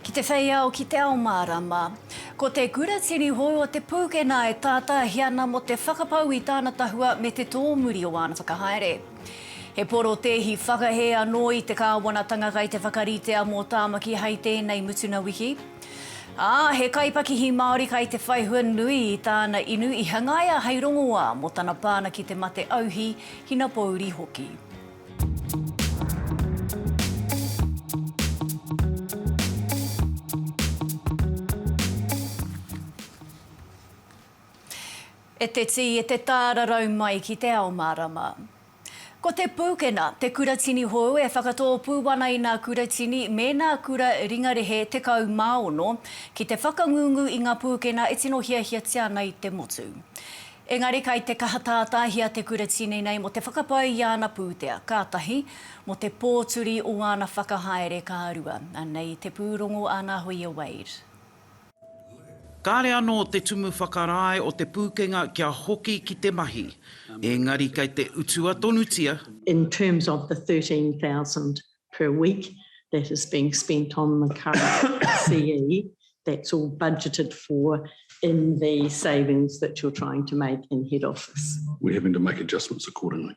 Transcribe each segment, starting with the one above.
Ki te whei ao ki te ao mārama. Ko te kura tini hou o Te Pūkenā e tātāhia ana mō te whakapau i tāna tahua me te tōmuri o āna whakahaere. He porotēhi whakahē anō i te kāwanatanga kei te whakaritea mō Tāmaki hei tēnei mutuna wiki. Ā, he kaipakihi Māori kai te whai hua nui i tāna inu i hangaia hei rongoā mō tana pāna ki te mate auhi, hinapōuri hoki. E te tī, e te tārarau mai ki te ao mārama. Ko Te Pūkena te kuratini hou e whakatōpū ana i nā kuratini me nā kura ringarehe 16 ki te whakangungu i ngā pūkena e tino hiahiatia ana i te motu. Engari kai te kaha tātāhia te kuratini nei mō te whakapai i āna pūtea, ka tahi, mō te pōturi o āna whakahaere, ka rua. Anei te pūrongo a Nā Hoia Wade. Kāre anō te tumu whakarae o Te Pūkenga kia hoki ki te mahi, engari kei te utua tonutia. In terms of the 13,000 per week that is being spent on the current CE, that's all budgeted for in the savings that you're trying to make in head office. We're having to make adjustments accordingly.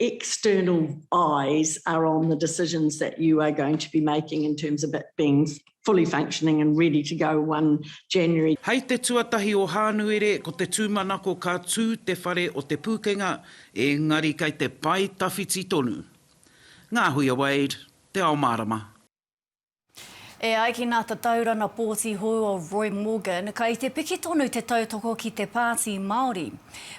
external eyes are on the decisions that you are going to be making in terms of it being fully functioning and ready to go 1 January. Hei te tuatahi o Hānuere ko te tūmanako ka tū te whare o Te Pūkenga engari kei te pae tawhiti tonu. Ngā hui a Wade, Te Ao Mārama. E ai ki nā Tataurana Pōti Hou o Roy Morgan, kai te piki tonu te tautoko ki te Pāti Māori.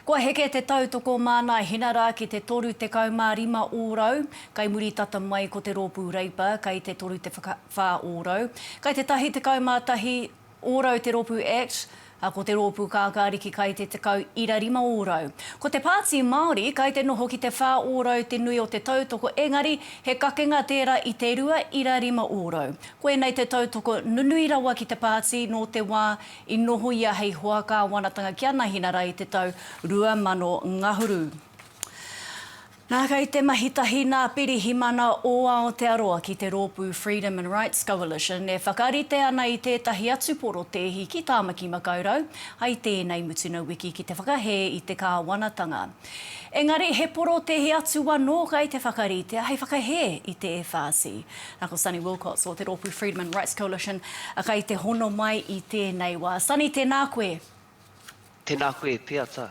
Kua heke te tautoko māna hinara ki te 35 ōrau, kai muri tata mai ko te rōpū Reipa kai te 34 ōrau, kai te tahi 11 ōrau te rōpū Act, ā, ko te rōpū Kākāriki kai te tekau ira rima ōrau. Ko te Pāti Māori kai te noho ki te whā ōrau te nui o te tautoko engari he kakenga tērā i te rua ira rima ōrau. Koinei te tautoko nunui rawa ki te Pāti nō te wā i noho ia hei hoa kāwanatanga ki a Nahinara i te tau 2000 ngahuru. Nā, kei te mahi tahi nā Pirihimana o Aotearoa ki te rōpū Freedom and Rights Coalition e whakarite ana i tētahi atu porotēhi ki Tāmaki Makaurau ai tēnei mutuna wiki ki te whakahē i te kāwanatanga. Engari he porotēhi atu anō kei te whakaritea hei whakahē i te FRC. Nā, ko Sunny Wilcox o te rōpū Freedom and Rights Coalition kei te hono mai i tēnei wā. Sunny, tēnā koe. Tena koe Peata.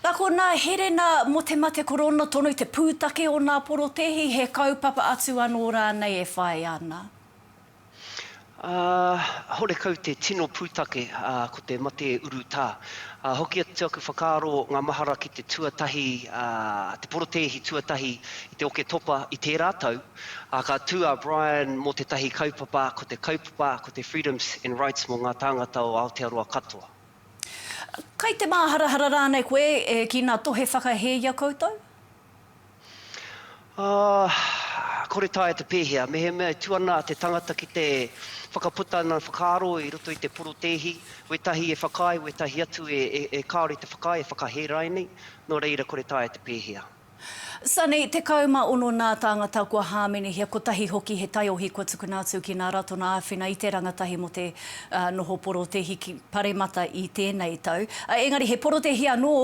Na ko na Herena mo te mate korona tonu te putake o na porotehi he kaupapa atu ano ranei e whae ana. Ahh horekau te tino putake ahh ko te mate urutā. Ahh hoki atu te aku whakaaro nga mahara ki te tuatahi ahh te porotehi tuatahi i te Oketopa i tērā tau, Ā, ka tū a Brian mō tētahi kaupapa, ko te kaupapa, ko te Freedoms and Rights mō ngā tāngata o Aotearoa katoa. Kai te māharahara rānei koe e ki nā tohe whakahē i a koutou? Ā, kore taea te pēhea. Mehemea e tū ana te tangata ki te whakaputa ina whakaaro i roto i te porotēhi, wētahi e whakaae, wētahi atu e kāore i te whakaae, e whakahē rānei, nō reira kore taea te pēhea. Sani, 16 nā tāngata kua hāmenehia, kotahi hoki he taiohi kua tukuna atu ki nā Ratona āwhina i te rangatahi mō te noho porotehi ki Paremata i tēnei tau. Engari he porotehi anō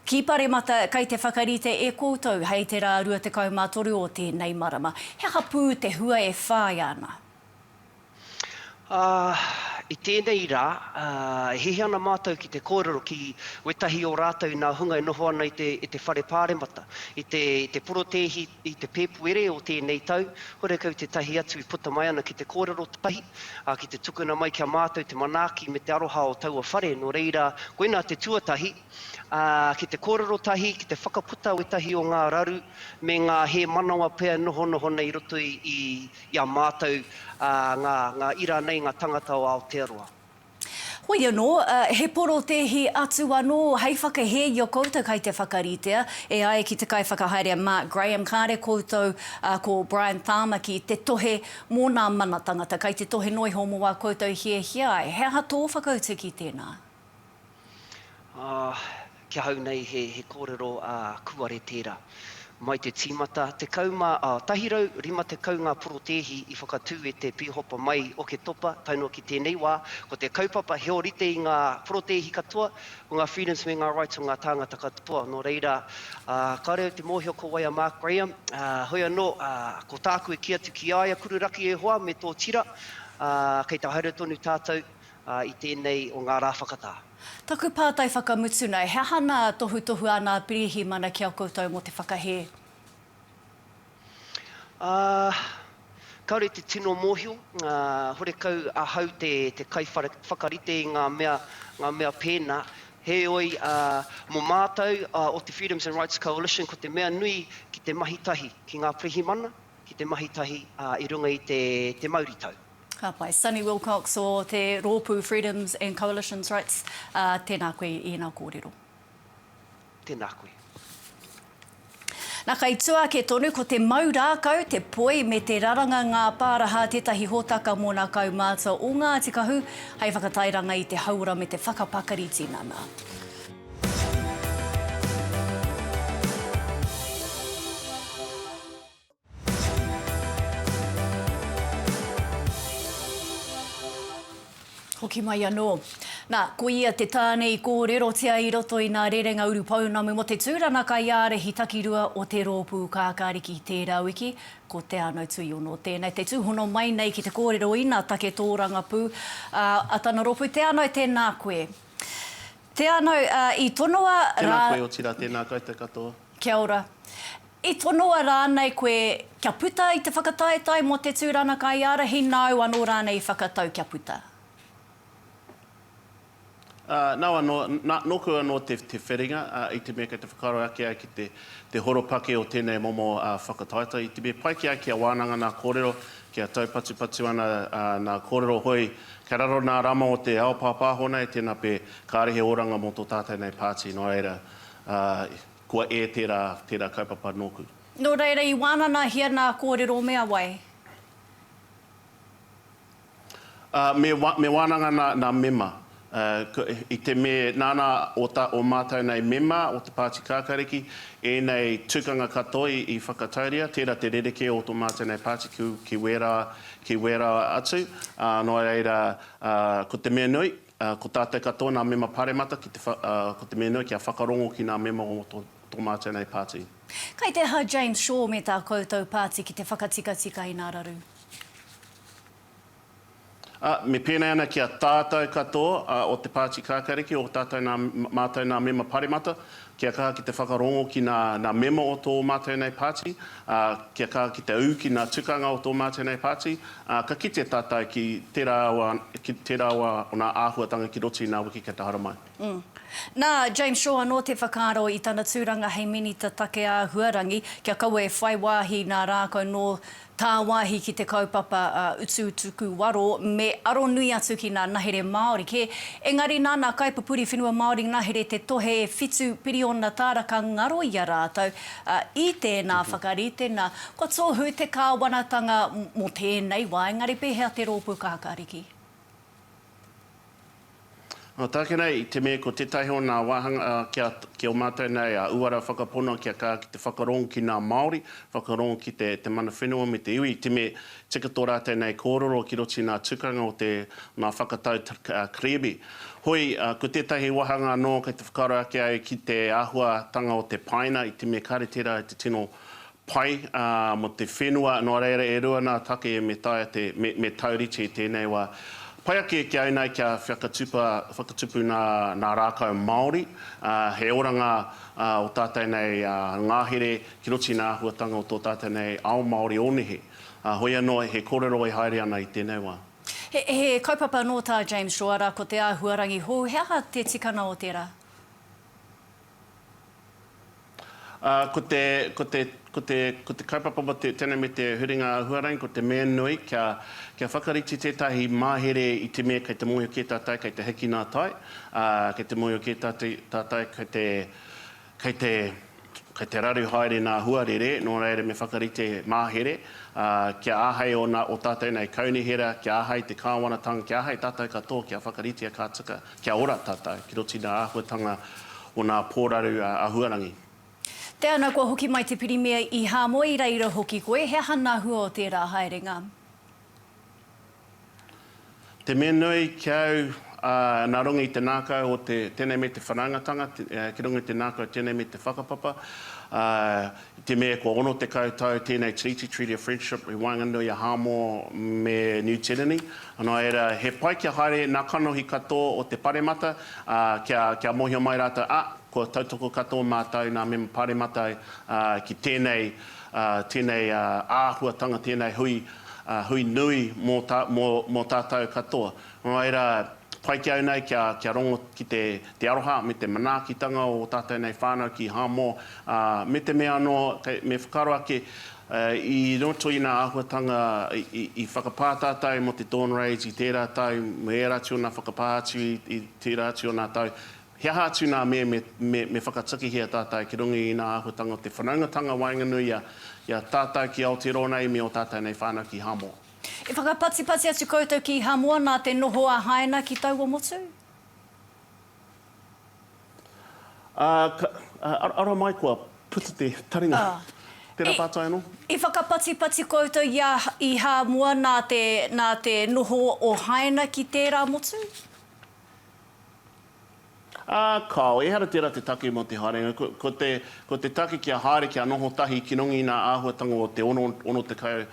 ki Paremata kei te whakarite e koutou hei te rā 23 o tēnei marama. He aha pū te hua e whāia ana? Ā, i tēnei rā, e hihi ana mātou ki te kōrero ki wētahi o rātou i nā hunga e noho ana i te, i te Whare Pāremata, i te, i te porotēhi i te Pēpuere o tēnei tau, horekau tētahi atu i puta mai ana ki te kōrero tahi, ā, ki te tukuna mai ki a mātou te manaaki me te aroha o taua whare, nō reira, koinā te tuatahi, ā, ki te kōrero tahi, ki te whakaputa wētahi o ngā raru me ngā hēmanawa pea e nohonoho nei i roto i, i, i a mātou ngā ira nei, ngā tangata o Aotearoa. Hoi anō, he porotēhi atu anō hei whakahē i a koutou kai te whakaritea, e ai ki te kaiwhakahaere a Mark Graham, kāre koutou ko Brian Tāmaki te tohe mō nā mana tangata, kai te tohe noa iho mō ā koutou hiahia ai. He aha tō whakautu ki tēnā? Ā, ki ahau nei he, he kōrero, ā, kūare tērā. Mai te tīmata, 10 mā, ā, 150 ngā porotēhi i whakatū e te Pīhopa mai Oketopa tae noa ki tēnei wā, ko te kaupapa he ōrite i ngā porotēhi katoa, ko ngā freedoms me ngā rights o ngā tāngata katoa. Nō reira, ā, kāore au te mōhio ko wai a Mark Graham, ā, hoi anō, ā, ko tāku e kī atu ki a ia, Kururaki e hoa me tō tira, ā, kei te haere tonu tātou, i tēnei o ngā rā whakatā. Taku pātai whakamutu nei, he aha nā tohutohu a nā Pirihimana ki a koutou mō te whakahē? Ahh, kāore te tino mōhio, horekau ahau te kaiwhakarite i ngā mea, ngā mea pēnā. Heoi, mō mātou o te Freedoms and Rights Coalition, ko te mea nui ki te mahi tahi ki ngā Pirihimana, ki te mahi tahi i runga i te mauritau. Ka pai. Sonny Wilcox o te rōpū Freedoms and Coalitions Rights, ā, tēnā koe i ēnā kōrero. Tēnā koe. Na, kei tua ake tonu, ko te mau rākau, te poi me te raranga ngā pāraha tētahi hōtaka mō nā kaumātua o Ngāti Kahu hei whakatairanga i te hauora me te whakapakari tinana. Hoki mai anō. Nā, ko ia te tāne i kōrerotia i roto i ngā rerenga urupounamu mō te tūranga kaiārahi takirua o te Rōpū Kākāriki tērā wiki, ko Te Anau Tuiono tēnei. Te tūhono mai nei ki te kōrero ina take tōrangapū, ā, a tana rōpū, Te Anau, tēnā koe. Te Anau, ā, i tonoa rā. Tēnā koe, otirā, tēnā koutou katoa. Kia ora. I tonoa rānei koe kia puta i te whakataetae mō te tūrana kaiārahi nāu anō rānei i whakatau kia puta? Aa, nau anō, na, nōku anō te, te wheringa, ā, i te mea kei te whakaaro ake ai ki te, te horopaki o tēnei momo, ā, whakataetae, i te mea pai ki a kia wānanga nā kōrero, kia taupatupatu ana, ā, nā kōrero hoi, kei raro nā rama o te ao pāpāho nei, tēnā pē, kāre he oranga mō tō tātou nei pāti, nō reira, Ā, kua ē tērā, tērā kaupapa nōku. Nō reira i wānanahia nā kōrero mea wai? Ā, me, me wānanga nā, nā mema. Ā, ko, i te me, nāna o, tā, o mātou nei mema o te Pāti Kākariki, ēnei tukanga katoa i, i whakatauria, tērā te rerekē o tō mātou nei pāti ki, ki wērā, ki wērā atu. Ā, nō reira, ā, ko te mea nui, Ko tātou katoa nā mema paremata ki te ko te mea nui kia whakarongo ki nā mema o tō mātou nei pāti. Kai te aha James Shaw me tā koutou pāti ki te whakatikatika i nā raru? A, me pēnei ana ki a tātou katoa o te pāti kākāriki o tātou nā, mātou nā mema paremata, Kia kaha ki te whakarongo ki nā, nā mema o tō mātou nei pāti, ā, kia kaha ki te ū ki nā tukanga o tō mātou nei pāti, ā, ka kite tātou ki tērā o, ki tērā o, o nā āhuatanga ki roto i nā wiki kia te haramai. Mm. Nā James Shaw anō te whakaaro i tana tūranga hei Minita Take Āhuarangi, kia kaua e whai wāhi nā rākau nō Tāwāhi ki te kaupapa a Utuutuku Waro me aro nui atu ki nā nahere Māori kē, engari nāna kaipupuri whenua Māori ngahere te tohe e whitu piriona tāra ka ngaro i a rātou, ā, i tēnā whakaritenga, kua tohu te kāwanatanga mō tēnei wā, engari pēhea te rōpū kākāriki? Nō tāke nei, i te mea ko tētahi o nā wāhanga kia, ki o mātou nei a uara whakapono kia kā ki te whakarong ki nā Māori, whakarong ki te, te mana whenua me te iwi, i te mea tika tō rātou nei kōrero ki roto i nā tukanga o te, nā whakatau Krebi. Hoi, ko tētahi wāhanga anō kei te whakaaro ake au ki te āhuatanga o te paina i te mea kāre tērā i te tino pai mo te whenua, noa reira e rua na take me taea te, me taurite i tenei wa. Pai ake kia inai kia whakatupa, whakatupu na, na rakau Maori, he oranga o tatou nei ngahere ki roto i na ahuatanga o to tatou nei ao Maori o nehe. Hoi ano he korero e haere ana i tenei wa. He kaupapa no ta James Roara ko te ahuarangi hou, he aha te tikanga o tera? Ā, ko te, ko te, ko te, ko te kaupapa mō te, tēnei me te huringa huarahi, ko te mea nui kia, kia whakarite tētahi mahere i te mea kei te mōhio kē tātou kei te hiki nā tai, ā, kei te mōhio kē tātou, tātou kei te, kei te, Kei te raru haere nā Huarere, nō reira me whakarite māhere, ā, kia āhei ōna, ō tātou nei kaunihera, kia āhei te kāwanatanga, kia āhei tātou katoa kia whakaritea ka tika, kia ora tātou, ki roto i ngā āhuatanga o ngā pōraru āhuarangi. Te ana kua hoki mai te Pirimia i Hāmoe i reira hoki koe, he aha ngā hua o tērā haerenga? Te mea nui ki au, nā runga i te nākau o te tēnei me te whanaungatanga, ki runga i te nākau tēnei me te whakapapa, i te mea kua 60 tau tēnei tiriti, Treaty of Friendship, i waenganui a Hāmoa me Niu Tīreni, nō reira, he pai kia haere nā kanohi katoa o te paremata, kia, kia mōhio mai rātou, a, kua tautoko katoa mātou, nā Mema Pāremata ki tēnei, tēnei āhuatanga, tēnei hui, ā, hui nui mō, mō, mō tātou katoa. Nō reira, ā, pai ki au nei kia, kia rongo ki te, te aroha me te manaakitanga o ō tātou nei whānau ki Hāmoa, ā, me te mea anō, kei, me whakaaro ake, ā, i roto i nā āhuatanga i, i, i whakapā tātou mō te Dawn Raids i tērā tau, me ērā atu o nā whakapā atu i, i tērā atu o nā tau, He aha atu nā me, me, me, me whakatakihia tātou ki runga i ina āhuatanga o te whanaungatanga waenganui i a, i a tātou ki Aotearoa nei me ō tātou nei whānau ki Hāmoa. I whakapatipati atu koutou ki Hāmoa nā te noho a Haina ki taua motu? Ā, ka, ā, ara mai kua puta te taringa. Ā, Tērā i, pātai anō? i whakapatipati koutou i a, i Hāmoa nā te, nā te noho o Haina ki tērā motu? Ā, kāo, ehara tērā te take mō te haerenga. Ko, ko te, ko te take kia haere, kia noho tahi ki runga i ngā āhuatanga o te ono, ono tekau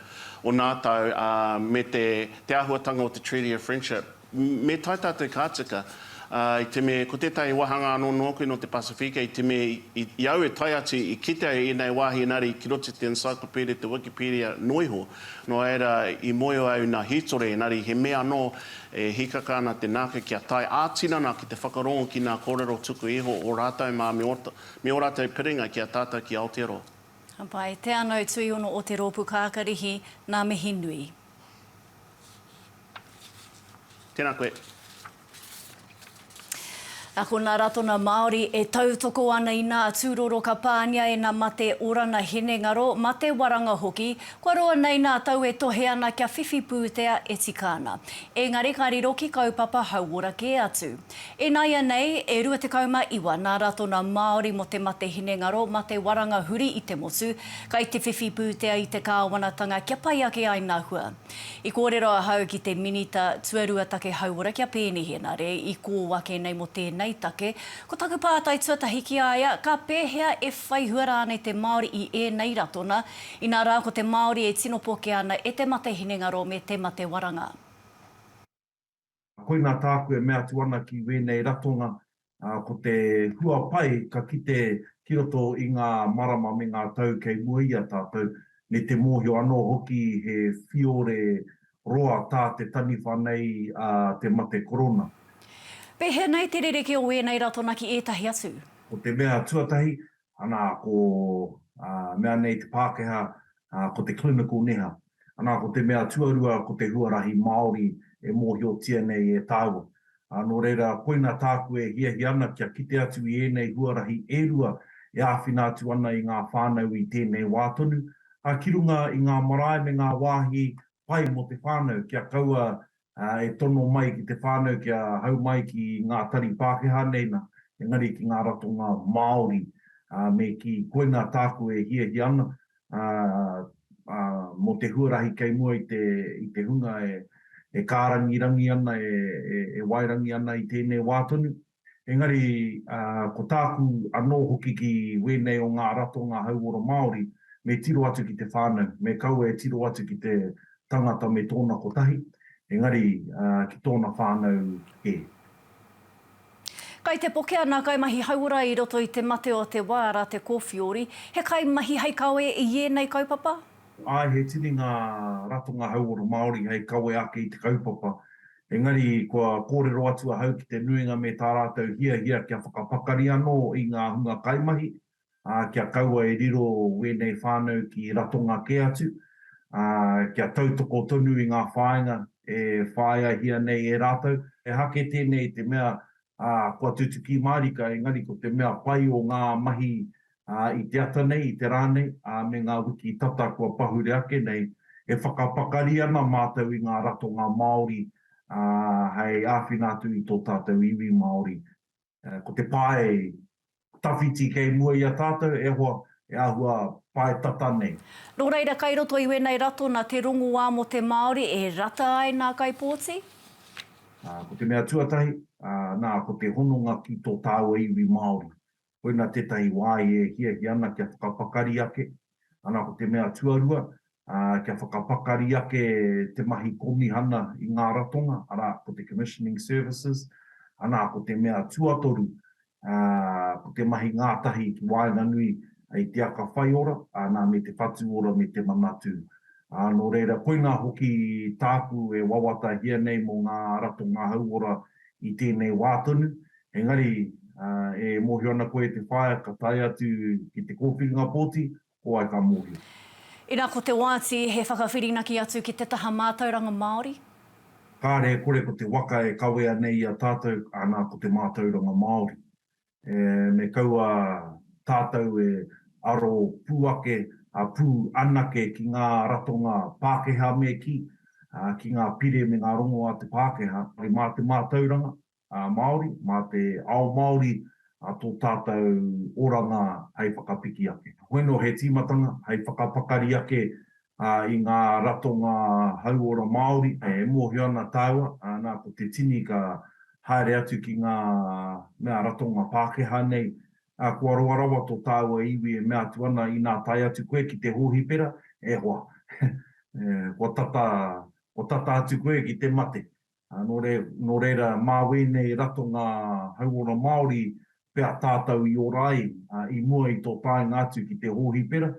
o nā tau, ā, me te, te āhuatanga o te Treaty of Friendship. Me tae tātou ka tika, ā, i te mea, ko tētahi wāhanga anō nōku nō te Pasifika, i te mea, i, i, i au e tae atu, i kite au i ēnei wāhi engari ki roto i te Encyclopedia, te Wikipedia noa iho, nō reira, i mōhio au nā hītori, engari he mea anō, E hīkaka ana te nāke kia tae ā-tinana ki te whakarongo ki ngā kōrero tuku iho o rātou mā me ō rātou piringa ki a tātou ki Aotearoa. Ka pai. Te anau tuiono o te roopu kakarihi, na mihi nui. Tēnā koe. Ko nā Ratona Māori e tautoko ana i nā tūroro ka pāngia e nā mate orana hinengaro, mate waranga hoki, kua roa nei nā tau e tohe ana kia whiwhi pūtea e tika ana. Engari ka riro ki kaupapa hauora kē atu. Inaianei, e 29 nā Ratona Māori mō te mate hinengaro, mate waranga huri i te motu, kai te whiwhi pūtea i te kāwanatanga kia pai ake ai nā hua. I kōrero ahau ki te Minita Tuarua Take Hauora, ki a Peeni Henare, i kō ake nei mō tēnei take. Ko taku pātai tuatahi ki a ia, ka pēhea e whaihua rānei te Māori i ēnei ratona, inā rā ko te Māori e tino pokea ana e te mate hinengaro me te mate waranga? Koinā tāku e mea atu ana ki wēnei ratonga, ko te hua pai ka kite ki roto i ngā marama me ngā tau kei mua i a tātou, me te mōhio anō hoki he whiore roa tā te taniwha nei a te mate korona. Pēhea nei te rerekē o wēnei ratona ki ētahi atu? Ko te mea tuatahi, Ana ko a mea nei te Pākehā, ko te clinical neha. Ana ko te mea tuarua ko te huarahi Māori e mōhiotia nei e tāua. Nō reira, koina tāku e hiahia ana kia kite atu i ēnei huarahi e rua e āwhina atu ana i ngā whānau i tēnei wā tonu, ā, ki runga i ngā marae me ngā wāhi pai mō te whānau kia kaua e tono mai ki te whānau kia hau mai ki ngā tari Pākehā nei nā, engari ki ngā ratonga Māori, ā, me kī, koinā tāku e hiahia ana, ā, ā, mō te huarahi kei mua i te, i te hunga e, e kārangirangi ana, e, e, e waerangi ana i tēnei wā tonu. Engari, ko tāku anō hoki ki wēnei o ngā ratonga hauora Māori, me tiro atu ki te whānau, me kaua e tiro atu ki te tangata me tōna kotahi, engari ki tōna whānau kē. Kai te pokea nā kaimahi hauora i roto i te mate o te wā rā te kōwhiori, he kaimahi hei kawe i ēnei kaupapa? Āe, he tini ngā ratonga hauora Māori hei kawe ake i te kaupapa, Engari, kua kōrero atu ahau ki te nuinga me tā rātou hiahia kia whakapakari anō i ngā hunga kaimahi, ā, kia kaua e riro wēnei whānau ki Ratonga kē atu, ā, kia tautoko tonu i ngā whāinga e whāiahia nei e rātou. He hake tēnei i te mea, ā, kua tutuki mārika, engari ko te mea pai o ngā mahi ā, i te ata nei, i te rā nei, ā, me ngā wiki tata kua pahure ake nei, e whakapakari ana mātou i ngā ratonga Māori, ā, hei āwhina atu i tō tātou iwi Māori. Ko te pae tawhiti kei mua i a tātou, e hoa, e āhua pae tata nei. Nō reira, kei roto i wēnei ratona te rongoā mō te Māori e rata ai nā kaipōti? Ko te mea tuatahi, nā, ko te hononga ki tō tāua iwi Māori. Koina tētahi wāhi e hiahia ana kia whakapakari ake, ana ko te mea tuarua, kia whakapakari ake te mahi kōmihana i ngā ratonga, arā, ko te Commissioning Services, ana ko te mea tuatoru, ko te mahi ngātahi ki waenganui i te aka whaiora, ana me te whatu ora me te manatū. Nō reira, koina hoki tāku e wawatahia nei mō ngā ratonga hauora i tēnei wā tonu, Engari, e mōhio ana koe te whaea ka tae atu ki te kōwhiringa pōti, ko wai ka mōhio? Ina ko te oati he whakawhirinaki atu ki te taha mātauranga Māori? Kāre e kore ko te waka e kawea nei i a tātou, ana ko te mātauranga Māori. Me kaua tātou e aro pū ake, pū anake ki ngā ratonga Pākehā me kī, ki ngā pire me ngā rongo a te Pākehā, mā te mātauranga, Māori, mā te ao Māori tō tātou oranga hei whakapiki ake. Hoi nō he tīmatanga hei whakapakari ake i ngā ratonga hauora Māori e mōhio ana tāua, nā ko te tini ka haere atu ki ngā mea ratonga Pākehā nei, kua roa rawa tō tāua iwi e mea atu ana inā tae atu koe ki te hōhipera, e hoa, kua tata, kua tata atu koe ki te mate. Ā, nō re, nō reira, mā wēnei ratonga hauora Māori pea tātou i ora ai, ā, i mua i tō taenga atu ki te hōhipera,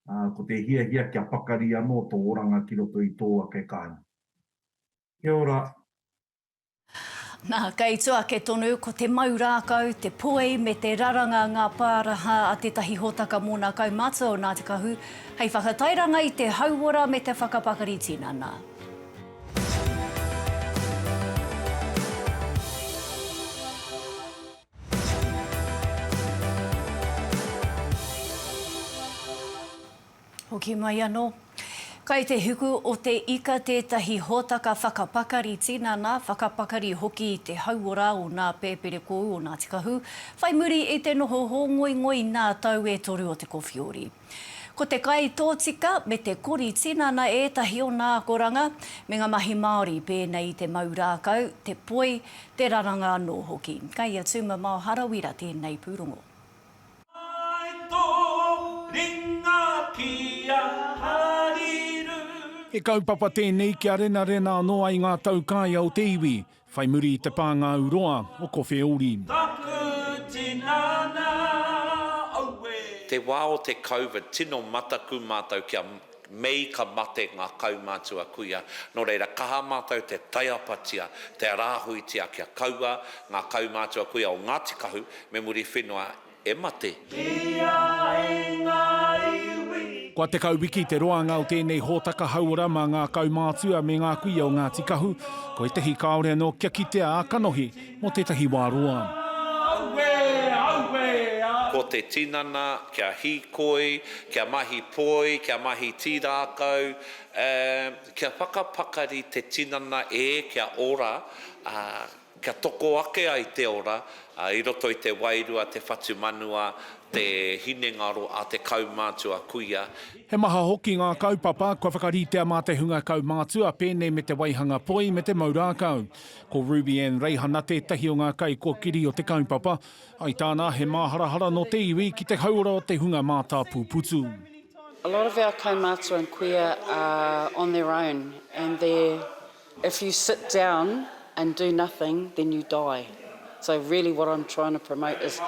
ā, ko te hiahia kia pakari anō tō oranga ki roto i tō ake kāinga. Kia ora. Nā, kei tua ake tonu, ko te mau rākau, te poi me te raranga ngā pāraha a tētahi hōtaka mōna kaumātua o Ngāti Kahu hei whakatairanga i te hauora me te whakapakari tinana. Hoki mai anō. Kai te hiku o te ika tētahi hōtaka whakapakari tinana, whakapakari hoki i te hauora o nā pēpere kōu o Ngāti Kahu, whai muri i te noho hōngoingoi nā tau e toru o te kowhiori. Ko te kai tōtika me te kori tinana ētahi o nā akoranga me ngā mahi Māori pēnei i te mau rākau, te poi, te raranga anō hoki. Kai a Tuma Mao Harawira tēnei pūrongo. Mai tō ringa ki a Hariru. He kaupapa tēnei kia renarena anō ai ngā taukaea o te iwi. Whai muri i te pā ngā uroa o Kowheori. Taku tinana aue. Te wā o te Covid, tino mataku mātou kia Mei ka mate ngā kaumātua kuia, nō reira kaha mātou te taiapatia, te rāhuitia kia kaua ngā kaumātua kuia o Ngāti Kahu me Muriwhenua e mate. Ki a i ngā iwi. Kua tekau wiki te roanga o tēnei hōtaka hauora mā ngā kaumātua me ngā kuia o Ngāti Kahu, ko ētahi kāore anō kia kitea ā kanohi mō tētahi wā roa. Aue! Aue! A. Ko te tinana, kia hīkoi, kia mahi poi, kia mahi tīrākau, ā, kia whakapakari te tinana e kia ora, ā. Kia toko ake ai te ora i roto i te wairua, te whatumanua, te hinengaro a te kaumātua kuia. He maha hoki ngā kaupapa kua whakaritea mā te hunga kaumātua, pēnei me te waihanga poi me te mau rākau. Ko Ruby Anne Reihana tētahi o ngā kaikōkiri o te kaupapa. I tāna, he māharahara nō te iwi ki te hauora o te hunga mātāpūputu. A lot of our kaumātua and kuia are on their own and they're. If you sit down and do nothing then you die so really what I'm trying to promote is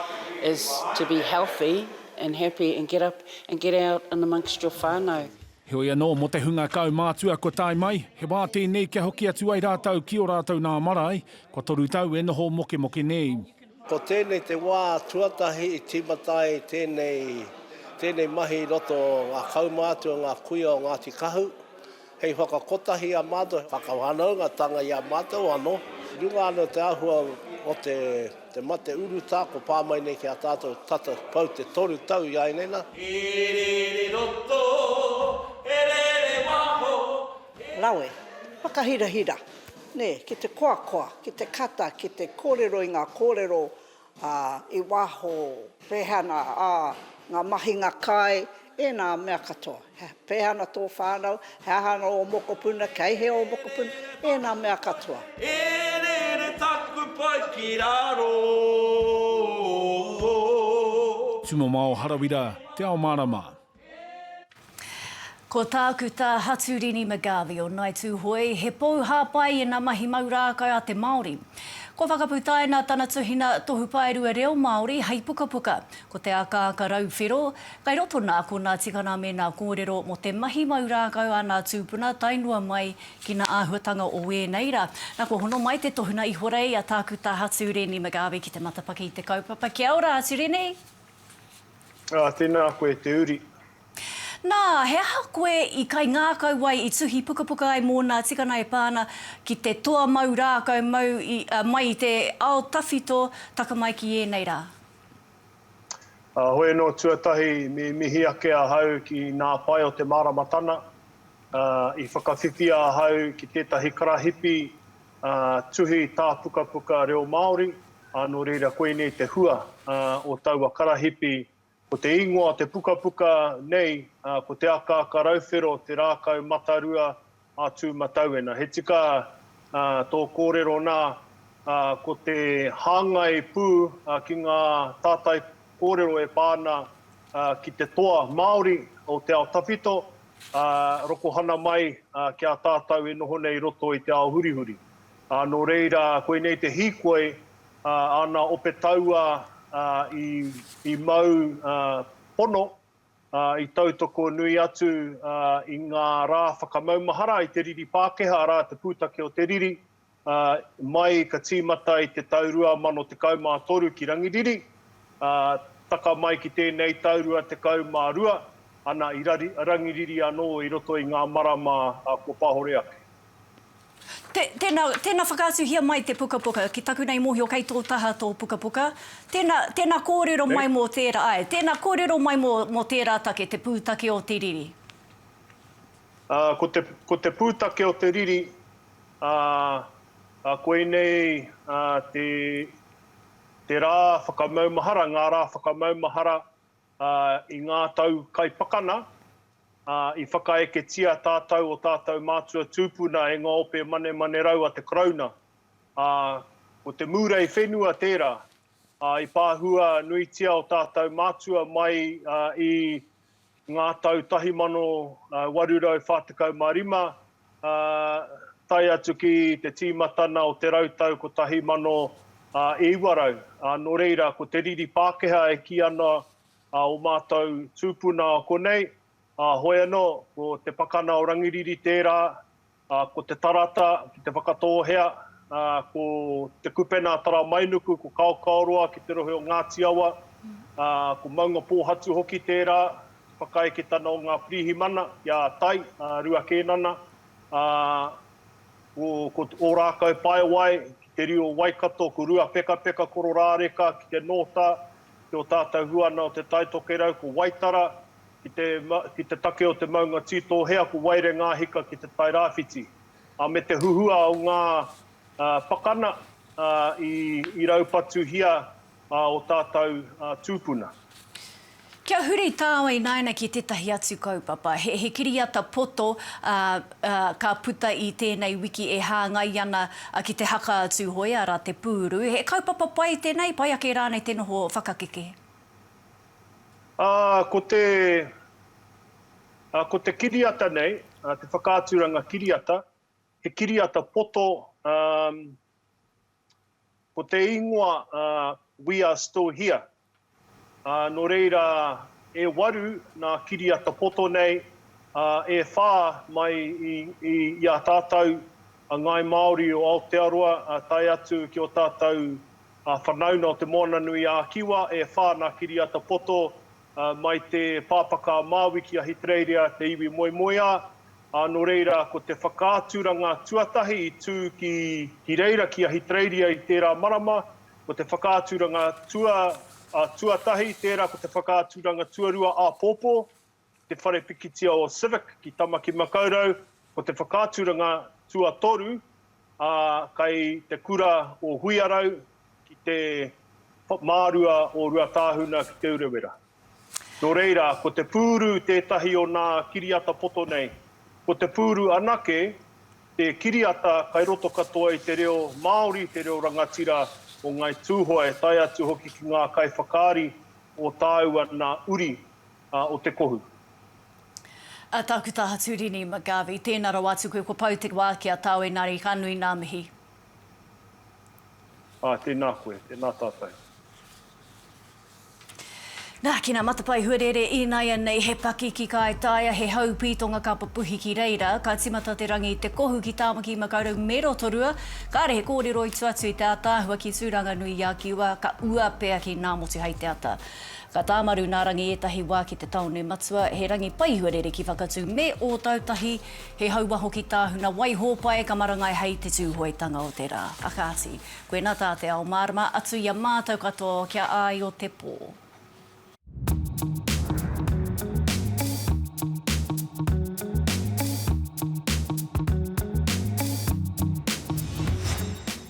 is to be healthy and happy and get up and get out and amongst your whanau. Heoi anō, mō te hunga kaumātua kua tae mai, he wā tēnei kia hoki atu ai rātou ki ō rātou nā marae, kua toru tau e noho mokemoke nei. Ko tēnei te wā tuatahi i tīmata ai tēnei, tēnei mahi i roto o ngā kaumātua, ngā kuia o Ngāti Kahu, hei whakakotahi i a mātou, hei whakawhanaungatanga i a mātou anō. I runga anō i te āhua o te, te mate urutā kua pā mai nei ki a tātou tata pau te toru tau i āineina. He rere roto, he rere waho, Rawe. Whakahirahira, nē, ki te koakoa, ki te kata, ki te kōrero i ngā kōrero ā, i waho, pēhea ana ā, ngā mahinga kai, ēnā mea katoa. He, pēhea ana tō whānau, he aha ana ō mokopuna, kei hea ō mokopuna, ēnā mea katoa. E rere taku pai ki raro. Tumamao Harawira, Te Ao Marama. Ko tāku tā Haturini McGarvey o Ngai Tūhoe, he pou hāpai i ngā mahi mau rākau a te Māori. Kua whakaputaina tana tuhina Tohu Paerua Reo Māori hei pukapuka, ko Te Akaaka Rau Whero, kei roto nā konā tikanga me nā kōrero mō te mahi mau rākau a nā tūpuna tae noa mai ki nā āhuatanga o ēnei rā. Nā, kua hono mai te tohunga ihorei a tāku tā Haturini McGarvey ki te matapaki i te kaupapa. Kia ora, Haturini! Ā, tēnā koe te uri. Nā, he aha koe i kaingākau ai, i tuhi pukapuka ai mō nā tikana e pā ana ki te toa mau rākau mau i, ā, mai i te ao tawhito, taka mai ki ēnei rā? Ā, hoi anō tuatahi, me mihi ake ahau ki nā pae o te māramatana, ā, i whakawhiwhia ahau ki tētahi karahipi tuhi tāpukapuka reo Māori, ā, nō reira koinei te hua o taua karahipi, ko te ingoa o te pukapuka nei, ko Te Akaaka Rauwhero, Te Rākau Matarua a Tūmatauena. He tika tō kōrero nā, ko te hāngai pū ki ngā tātai kōrero e pā ana ki te toa Māori o te ao tawhito, ā, rokohana mai ki a tātou e noho nei i roto i te ao hurihuri. Ā, nō reira, koinei te hīkoi, ā, āna ope tauā, ā, i, i mau, ā, pono, ā, i tautoko nui atu, ā, i ngā rā whakamaumahara i te riri Pākehā, arā, te pūtake o te riri, ā, mai ka tīmata i te tau 2013 ki Rangiriri, ā, taka mai ki tēnei tau 22, ana i Rangiriri anō i roto i ngā marama kua pahore ake. Tēnā, tēnā whakaatuhia mai te pukapuka, ki taku nei mōhio kei tō taha tō pukapuka, tēnā, tēnā kōrero mai mō tērā, āe, tēnā kōrero mai mō, mō tērā take, te pūtake o te riri. Ā, ko te, ko te pūtake o te riri, Ā, ā, koinei ā te, te rā whakamaumahara, ngā rā whakamaumahara ā, i ngā tau kai pakana, ā, i whakaeketia tātou o tātou mātua tūpuna e ngā ope manemanerau a te Karauna. Ā, ko te mūrei whenua tērā, ā, i pāhua nuitia o tātou mātua mai ā, i ngā tau 1845, ā, tae atu ki te tīmatana o te rau tau 1900, ā, nō reira, ko te riri Pākehā e kī ana ō mātou tūpuna konei, ā, hoi anō, ko Te Pakana o Rangiriri tērā, Ko te tarata ki Te Whakatōhea, ko Te Kupena Taramainuku, ko Kaokaoroa ki te rohe o Ngāti Awa, ko Maungapōhatu hoki tērā, te whakaeketana o ngā pirihimana i a Tai, Rua Kēnana, ko Ōrākau Paewae ki te riu o Waikato, ko Ruapekapeka Kororāreka ki te Nōta, ki ō tātou huana o Te Taitokerau, ko Waitara, Ki te, ki te take o te maunga Tītōhea ko Waire Ngāhika ki te Tairāwhiti, ā, me te huhua o ngā, ā, pakana, ā, i, i raupatuhia, ā, ō tātou, ā, tūpuna. Kia huri tāua ināina ki tētahi atu kaupapa. He, he kiriata poto, ā, ā, ka puta i tēnei wiki e hāngai ana ki te haka a Tūhoe, arā, te pūru. He kaupapa pai tēnei, pai ake rānei te noho whakakeke? Ā, ko te, ā, ko te kiriata nei, ā, te whakaaturanga kiriata, he kiriata poto, ā, ko te ingoa, ā, We are still here. Ā, nō reira, e waru nā kiriata poto nei, ā, e whā mai i, i, i a tātou, a Ngāi Māori o Aotearoa, ā, tae atu ki ō tātou Ngā whanaunga o Te Moana-nui-ā-Kiwa e whā nā kiriata poto mai te Pāpaka a Māui ki Ahitereiria te iwi moemoeā, ā, nō reira ko te whakaaturanga tuatahi i tū ki reira ki Ahitereiria i tērā marama, ko te whakaaturanga tuatahi, tērā ko te whakaaturanga tuarua āpōpō, Te Whare Pikitia o Civic ki Tamaki-makau-rau, ko te whakaaturanga tuatoru, ā, kei te kura o Huiarau ki te mārua o Ruatāhuna ki Te Urewera. Nō reira, ko te pūru tētahi o nā kiriata poto nei. Ko te pūru anake te kiriata kai roto katoa i te reo Māori, te reo rangatira o Ngāi Tūhoe, tae atu hoki ki ngā kaiwhakaari o tāua nā Uri. o te kohu. A Tākuta Haturini McGarvey, tēnā rawa atu koe, ko Pou te wā ki a tāu engari ka nui ngā mihi. Āe, tēnā koe, tēnā tātou. Nā, ki ngā matapae huarere ināianei he paki ki Kāetaia, he hau pītonga ka pupuhi ki reira, ka tīmata te rangi i te kohu ki Tāmaki Makaurau me Rotorua, kāre he kōrero i tua atu i te ātaahua ki Tūranganui i a Kiwa, ka ua pea ki Ngāmotu hei te ata. Ka tāmaru nā Rangi ētahi wā ki te tāone matua, he rangi pai huarere ki Whakatū me Ōtautahi, he hauā hoki tāhuna wai hōpae ka marangai hei te Tūhoetanga o te rā. Whakaati, koinā tā te ao mārama atu i a mātou katoa o kia āi o te pō.